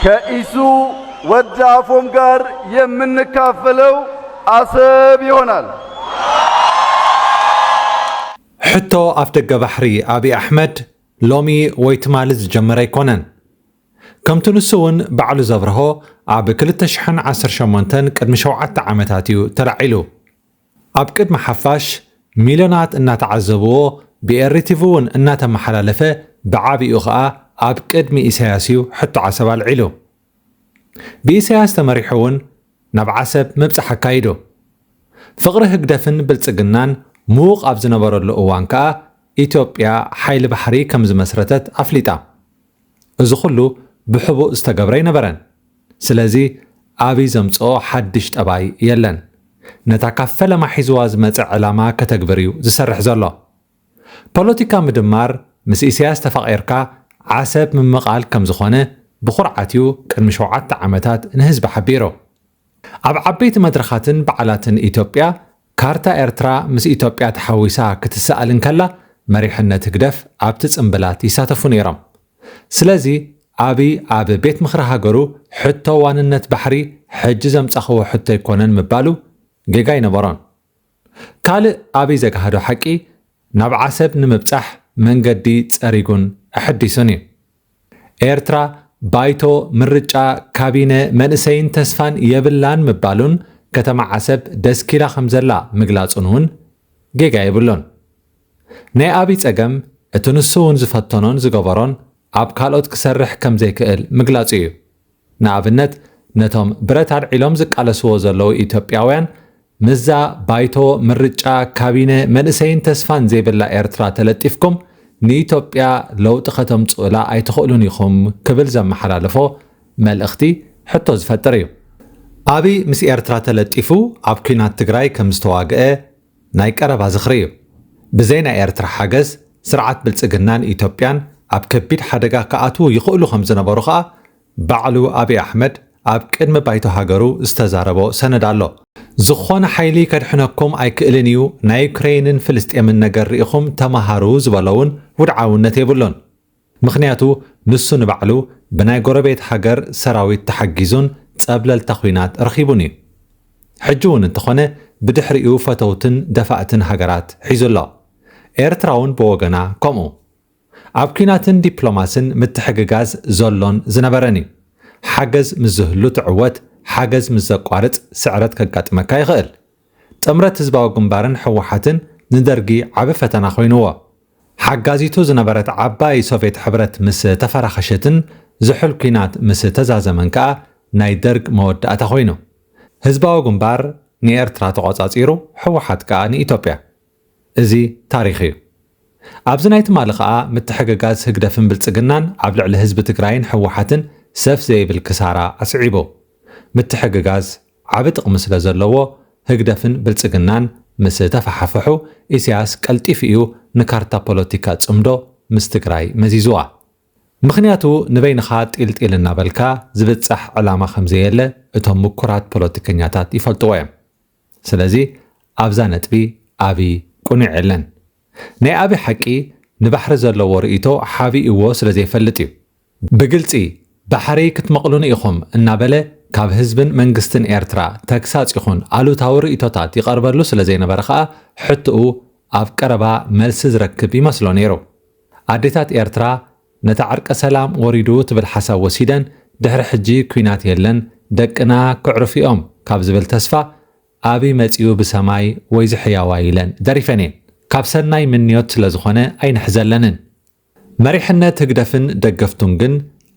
ከኢሱ ወዲ ኣፎም ጋር የምንካፈለው ኣሰብ ይሆናል። ሕቶ ኣፍደገ ባሕሪ ኣብይ ኣሕመድ ሎሚ ወይ ትማሊ ዝጀመረ ኣይኮነን። ከምቲ ንሱ እውን ባዕሉ ዘብርሆ ኣብ ክልተ ሽሕን ዓሰርተ ሸሞንተን ቅድሚ ሸውዓተ ዓመታት እዩ ተላዒሉ። ኣብ ቅድሚ ሓፋሽ ሚልዮናት እናተዓዘብዎ ብኤሪቲቪ እውን እናተመሓላለፈ ብዓቢኡ ከኣ ኣብ ቅድሚ ኢሳያስ እዩ ሕቶ ዓሰብ ኣልዒሉ። ብኢሳያስ ተመሪሑ እውን ናብ ዓሰብ ምብጻሕ ኣካይዱ። ፍቕሪ ህግደፍን ብልጽግናን ምዉቕ ኣብ ዝነበረሉ እዋን ከኣ ኢትዮጵያ ሓይሊ ባሕሪ ከም ዝመስረተት ኣፍሊጣ። እዚ ኩሉ ብሕቡእ ዝተገብረ ኣይነበረን። ስለዚ ኣብይ ዘምጽኦ ሓድሽ ጠባይ የለን። ነታ ካብ ፈለማ ሒዝዋ ዝመጸ ዕላማ ከተግብር እዩ ዝሰርሕ ዘሎ። ፖለቲካ ምድማር ምስ ኢሰያስ ተፋቒርካ ዓሰብ ምምቓል ከምዝኾነ ብኹርዓት እዩ ቅድሚ ሸውዓተ ዓመታት ንህዝቢ ሓቢሩ። ኣብ ዓበይቲ መድረኻትን በዓላትን ኢትዮጵያ ካርታ ኤርትራ ምስ ኢትዮጵያ ተሓዊሳ ክትሰኣል እንከላ መሪሕነት ህግደፍ ኣብቲ ጽምብላት ይሳተፉ ነይሮም። ስለዚ ኣብይ ኣብ ቤት ምኽሪ ሃገሩ ሕቶ ዋንነት ባሕሪ ሕጂ ዘምጻኹዎ ሕቶ ኣይኮነን ምባሉ ጌጋ ኣይነበሮን። ካልእ ኣብይ ዘግሃዶ ሓቂ ናብ ዓሰብ ንምብጻሕ መንገዲ ጸሪጉን ኣሐዲሱን እዩ። ኤርትራ ባይቶ፣ ምርጫ፣ ካቢነ፣ መንእሰይን ተስፋን የብላን ምባሉን ከተማ ዓሰብ ደስኪላ ከምዘላ ምግላጹን እውን ጌጋ የብሉን። ናይ ኣብይ ጸገም እቲ ንሱ እውን ዝፈተኖን ዝገበሮን ኣብ ካልኦት ክሰርሕ ከምዘይክእል ምግላጹ እዩ። ንኣብነት ነቶም ብረት ኣልዒሎም ዝቃለስዎ ዘለዉ ኢትዮጵያውያን ምስዛ ባይቶ፣ ምርጫ፣ ካቢነ፣ መንእሰይን ተስፋን ዘይብላ ኤርትራ ተለጢፍኩም ንኢትዮጵያ ለውጢ ከተምጽኡላ ኣይትኽእሉን ኢኹም ክብል ዘመሓላለፎ መልእኽቲ ሕቶ ዝፈጥር እዩ። ኣብይ ምስ ኤርትራ ተለጢፉ ኣብ ኲናት ትግራይ ከምዝተዋግኣ ናይ ቀረባ ዝኽሪ እዩ። ብዘይ ናይ ኤርትራ ሓገዝ ስርዓት ብልጽግናን ኢትዮጵያን ኣብ ከቢድ ሓደጋ ክኣትዉ ይኽእሉ ከም ዝነበሩ ከኣ ባዕሉ ኣቢይ ኣሕመድ ኣብ ቅድሚ ባይቶ ሃገሩ ዝተዛረቦ ሰነድ ኣሎ። ዝኾነ ሓይሊ ከድሕነኩም ኣይክእልን እዩ፣ ናይ ዩክረይንን ፍልስጤምን ነገር ርኢኹም ተማሃሩ ዝበሎ'ውን ውድዓውነት የብሉን። ምኽንያቱ ንሱ ንባዕሉ ብናይ ጎረቤት ሃገር ሰራዊት ተሓጊዙን ጸብለልታ ኹናት ረኺቡን እዩ። ሕጂ ውን እንተኾነ ብድሕሪኡ ፈተውትን ደፋእትን ሃገራት ሒዙ ኣሎ። ኤርትራ ውን ብወገና ከምኡ። ኣብ ኲናትን ዲፕሎማስን ምትሕግጋዝ ዘሎን ዝነበረን እዩ። ሓገዝ ምስ ዝህሉ ትዕወት፣ ሓገዝ ምስ ዘቋርጽ ስዕረት ከጋጥመካ ይኽእል። ጥምረት ህዝባዊ ግንባርን ህወሓትን ንደርጊ ዓቢ ፈተና ኮይኑዎ። ሓጋዚቱ ዝነበረት ዓባይ ሶቬት ሕብረት ምስ ተፈራኸሸትን ዝሑል ኩናት ምስ ተዛዘመን ከኣ ናይ ደርግ መወዳእታ ኮይኑ። ህዝባዊ ግንባር ንኤርትራ ተቖጻጺሩ ህወሓት ከኣ ንኢትዮጵያ። እዚ ታሪኽ እዩ። ኣብዚ ናይ ትማሊ ከኣ ምትሕግጋዝ ህግደፍን ብልጽግናን ኣብ ልዕሊ ህዝቢ ትግራይን ህወሓትን ሰፍ ዘይብል ክሳራ ኣስዒቡ። ምትሕግጋዝ ዓቢ ጥቕሚ ስለ ዘለዎ ህግደፍን ብልጽግናን ምስ ተፋሓፍሑ ኢሳያስ ቀልጢፉ እዩ ንካርታ ፖለቲካ ጽምዶ ምስ ትግራይ መዚዙዋ። ምኽንያቱ ንበይንኻ ጢል ጢል እናበልካ ዝብጻሕ ዕላማ ከም ዘየለ እቶም ምኩራት ፖለቲከኛታት ይፈልጥዎ እዮም። ስለዚ ኣብዛ ነጥቢ ኣብይ ቅኑዕ የለን። ናይ ኣብይ ሓቂ ንባሕሪ ዘለዎ ርእይቶ ሓቢኡዎ ስለ ዘይፈልጥ እዩ። ብግልጺ ባሕሪ ክትመቕሉኒ ኢኹም እናበለ ካብ ህዝብን መንግስትን ኤርትራ ተግሳጽ ይኹን ኣሉታዊ ርእይቶታት ይቐርበሉ ስለ ዘይነበረ ከኣ ሕቶኡ ኣብ ቀረባ መልሲ ዝረክብ ይመስሎ ነይሩ። ኣዴታት ኤርትራ ነታ ዕርቀ ሰላም ወሪዱ ትብል ሓሳብ ወሲደን ድሕሪ ሕጂ ኲናት የለን ደቅና ከዕርፉ'ዮም ካብ ዝብል ተስፋ ኣብይ መጺኡ ብሰማይ ወይዚ ሕያዋይ ኢለን ደሪፈን'የን። ካብ ሰናይ ምንዮት ስለ ዝኾነ ኣይንሕዘለንን። መሪሕነት ህግደፍን ደገፍቱን ግን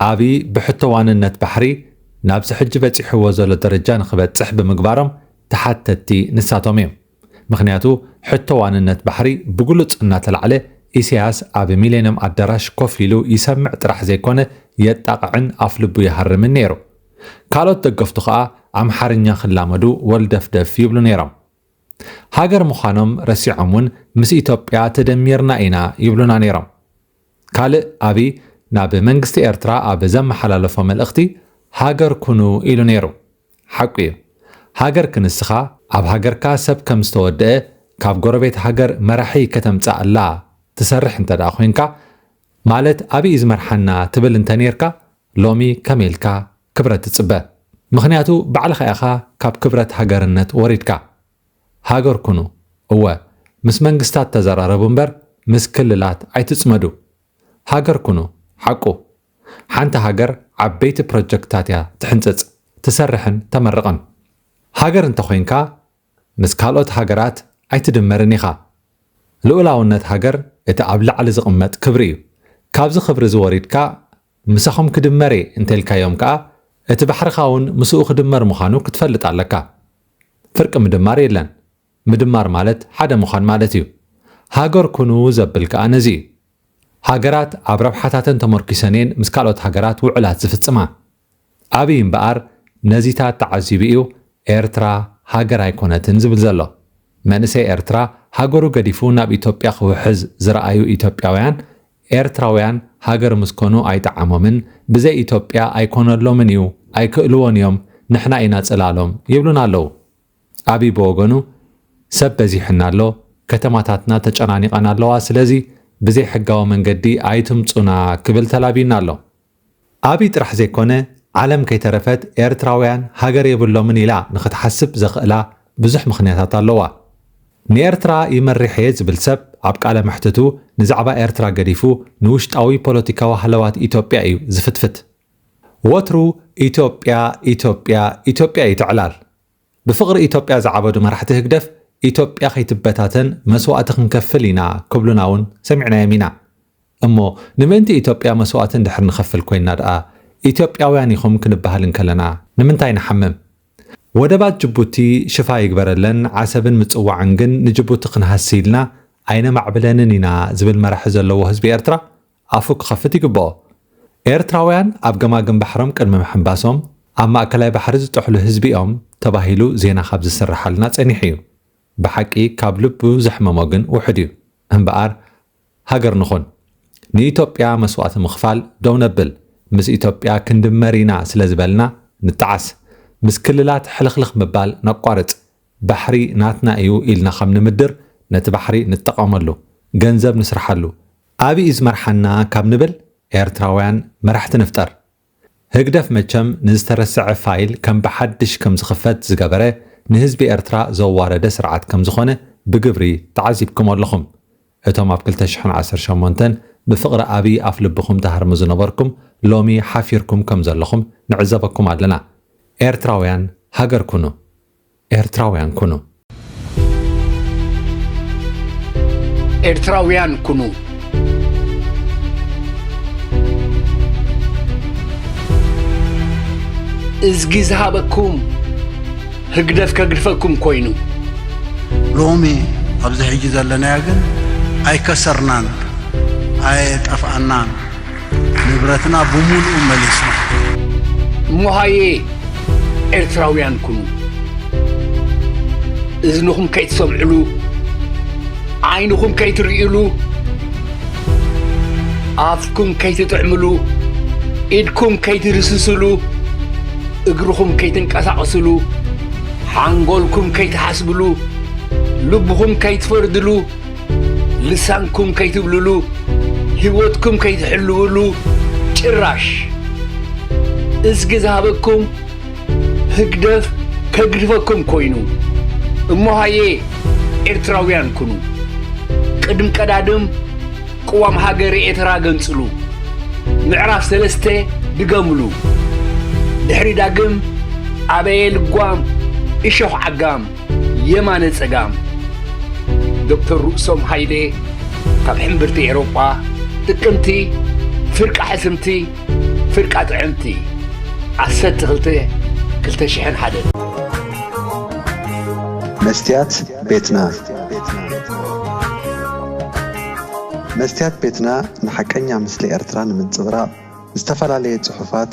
ኣብይ ብሕቶ ዋንነት ባሕሪ ናብዚ ሕጂ በጺሕዎ ዘሎ ደረጃ ንክበጽሕ ብምግባሮም ተሓተቲ ንሳቶም እዮም። ምክንያቱ ሕቶ ዋንነት ባሕሪ ብግሉጽ እናተላዕለ ኢሰያስ ኣብ ሚሌንዮም ኣዳራሽ ኮፍ ኢሉ ይሰምዕ ጥራሕ ዘይኮነ የጣቕዕን ኣፍልቡ ይሃርምን ነይሩ። ካልኦት ደገፍቱ ከኣ ኣምሓርኛ ክላመዱ ወልደፍደፍ ይብሉ ነይሮም። ሃገር ምዃኖም ረሲዖም ውን ምስ ኢትዮጵያ ተደሚርና ኢና ይብሉና ነይሮም። ካልእ ኣብይ ናብ መንግስቲ ኤርትራ ኣብ ዘመሓላለፎ መልእኽቲ ሃገር ኩኑ ኢሉ ነይሩ። ሓቁ እዩ። ሃገር ክንስኻ ኣብ ሃገርካ ሰብ ከም ዝተወደኣ ካብ ጎረቤት ሃገር መራሒ ከተምጽኣላ ትሰርሕ እንተድኣ ኮይንካ ማለት ኣብይ እዩ ዝመርሓና ትብል እንተኔርካ ሎሚ ከመይ ኢልካ ክብረት ትጽበ ምኽንያቱ ባዕልኻ ኢኻ ካብ ክብረት ሃገርነት ወሪድካ። ሃገር ኩኑ እወ ምስ መንግስታት ተዘራረቡ እምበር ምስ ክልላት ኣይትጽመዱ። ሃገር ኩኑ ሓቁ። ሓንቲ ሃገር ዓበይቲ ፕሮጀክትታት እያ ትሕንጽጽ፣ ትሰርሕን ተመርቕን። ሃገር እንተኾይንካ ምስ ካልኦት ሃገራት ኣይትድመርን ኢኻ። ልኡላውነት ሃገር እቲ ኣብ ላዕሊ ዝቕመጥ ክብሪ እዩ። ካብዚ ክብሪ እዚ ወሪድካ ምሳኹም ክድመር እየ እንተልካዮም ከኣ እቲ ባሕርኻ እውን ምስኡ ክድመር ምዃኑ ክትፈልጥ ኣለካ። ፍርቂ ምድማር የለን። ምድማር ማለት ሓደ ምዃን ማለት እዩ። ሃገር ኩኑ ዘብል ከኣ ነዚ እዩ። ሃገራት ኣብ ረብሓታተን ተመርኲሰን እየን ምስ ካልኦት ሃገራት ውዕላት ዝፍጽማ። ኣብይ እምበኣር ነዚታት ተዓዚቡ እዩ ኤርትራ ሃገር ኣይኮነትን ዝብል ዘሎ። መንእሰይ ኤርትራ ሃገሩ ገዲፉ ናብ ኢትዮጵያ ክውሕዝ ዝረኣዩ ኢትዮጵያውያን ኤርትራውያን ሃገር ምስ ኮኑ ኣይጠዓሞምን ብዘይ ኢትዮጵያ ኣይኮነሎምን እዩ ኣይክእልዎን እዮም ንሕና ኢና ጽላሎም ይብሉና ኣለዉ። ኣብይ ብወገኑ ሰብ በዚሑና ኣሎ ከተማታትና ተጨናኒቐን ኣለዋ ስለዚ ብዘይ ሕጋዊ መንገዲ ኣይትምጹና ክብል ተላብዩና ኣሎ። ኣብይ ጥራሕ ዘይኮነ ዓለም ከይተረፈት ኤርትራውያን ሃገር የብሎምን ኢላ ንኽትሓስብ ዘኽእላ ብዙሕ ምኽንያታት ኣለዋ። ንኤርትራ ይመሪሕ እየ ዝብል ሰብ ኣብ ቃለ መሕትቱ ንዛዕባ ኤርትራ ገዲፉ ንውሽጣዊ ፖለቲካዊ ሃለዋት ኢትዮጵያ እዩ ዝፍትፍት። ወትሩ ኢትዮጵያ ኢትዮጵያ ኢትዮጵያ እዩ እቲ ዕላል። ብፍቕሪ ኢትዮጵያ ዝዓበዱ መራሕቲ ህግደፍ ኢትዮጵያ ከይትበታተን መስዋእቲ ክንከፍል ኢና ክብሉና እውን ሰሚዕናዮም ኢና። እሞ ንምእንቲ ኢትዮጵያ መስዋእቲ እንድሕር ንኸፍል ኮይንና ድኣ ኢትዮጵያውያን ኢኹም ክንበሃል እንከለና ንምንታይ ንሓምም? ወደባት ጅቡቲ ሽፋ ይግበረለን ዓሰብን ምጽዋዕን ግን ንጅቡቲ ክንሃሲ ኢልና ኣይነማዕብለንን ኢና ዝብል መራሒ ዘለዎ ህዝቢ ኤርትራ ኣፉ ክኸፍት ይግበኦ። ኤርትራውያን ኣብ ገማግም ባሕሮም ቅድሚ ምሕንባሶም ኣብ ማእከላይ ባሕሪ ዝጠሕሉ ህዝቢ እዮም ተባሂሉ ዜና ካብ ዝስረሓልና ጸኒሑ እዩ። ብሓቂ ካብ ልቡ ዘሕመሞ ግን ውሑድ እዩ። እምበኣር ሃገር ንኹን። ንኢትዮጵያ መስዋእቲ ምኽፋል ደው ነብል። ምስ ኢትዮጵያ ክንድመር ኢና ስለ ዝበልና ንጠዓስ። ምስ ክልላት ሕልኽልኽ ምባል ነቋርጽ። ባሕሪ ናትና እዩ ኢልና ከም ንምድር ነቲ ባሕሪ ንጠቐመሉ። ገንዘብ ንስርሓሉ። ኣብይ ዝመርሓና ካብ ንብል ኤርትራውያን መራሕቲ ንፍጠር። ህግደፍ መቸም ንዝተረሰዐ ፋይል ከም ብሓድሽ ከም ዝኽፈት ዝገበረ ንህዝቢ ኤርትራ ዘዋረደ ስርዓት ከም ዝኾነ ብግብሪ ተዓዚብክሞ ኣለኹም። እቶም ኣብ ክልተ ሽሕን ዓሰርተ ሸሞንተን ብፍቕሪ ኣብይ ኣፍ ልብኹም ትሃርሙ ዝነበርኩም ሎሚ ሓፊርኩም ከም ዘለኹም ንዕዘበኩም ኣለና። ኤርትራውያን ሃገር ኩኑ። ኤርትራውያን ኩኑ! ኤርትራውያን ኩኑ! እዝጊ ዝሃበኩም ህግደፍ ከግድፈኩም ኮይኑ። ሎሚ ኣብዚ ሕጂ ዘለናዮ ግን ኣይከሰርናን ኣየጠፍኣናን ንብረትና ብሙሉኡ መሊስና። እሞ ሃየ ኤርትራውያን ኩኑ እዝንኹም ከይትሰምዕሉ ዓይንኹም ከይትርእይሉ ኣፍኩም ከይትጥዕምሉ ኢድኩም ከይትድስስሉ እግርኹም ከይትንቀሳቕስሉ ሓንጎልኩም ከይትሓስብሉ ልብኹም ከይትፈርድሉ ልሳንኩም ከይትብልሉ ሂወትኩም ከይትሕልውሉ ጭራሽ እዝጊ ዝሃበኩም ህግደፍ ከግድፈኩም ኮይኑ እሞ ሃየ ኤርትራውያን ኩኑ ቅድም ቀዳድም ቅዋም ሃገረ ኤትራ ገንጽሉ ምዕራፍ ሰለስተ ድገምሉ ድሕሪ ዳግም ኣበየ ልጓም እሾኽ ዓጋም የማነ ጸጋም፣ ዶክተር ርእሶም ሃይሌ ካብ ሕምብርቲ ኤሮጳ፣ ጥቅምቲ፣ ፍርቂ ሕስምቲ፣ ፍርቃ ጥዕምቲ፣ ዓሰርተ ክልተ ክልተ ሽሕን ሓደን። መስትያት ቤትና መስትያት ቤትና ንሓቀኛ ምስሊ ኤርትራ ንምንጽብራቕ ዝተፈላለየ ጽሑፋት፣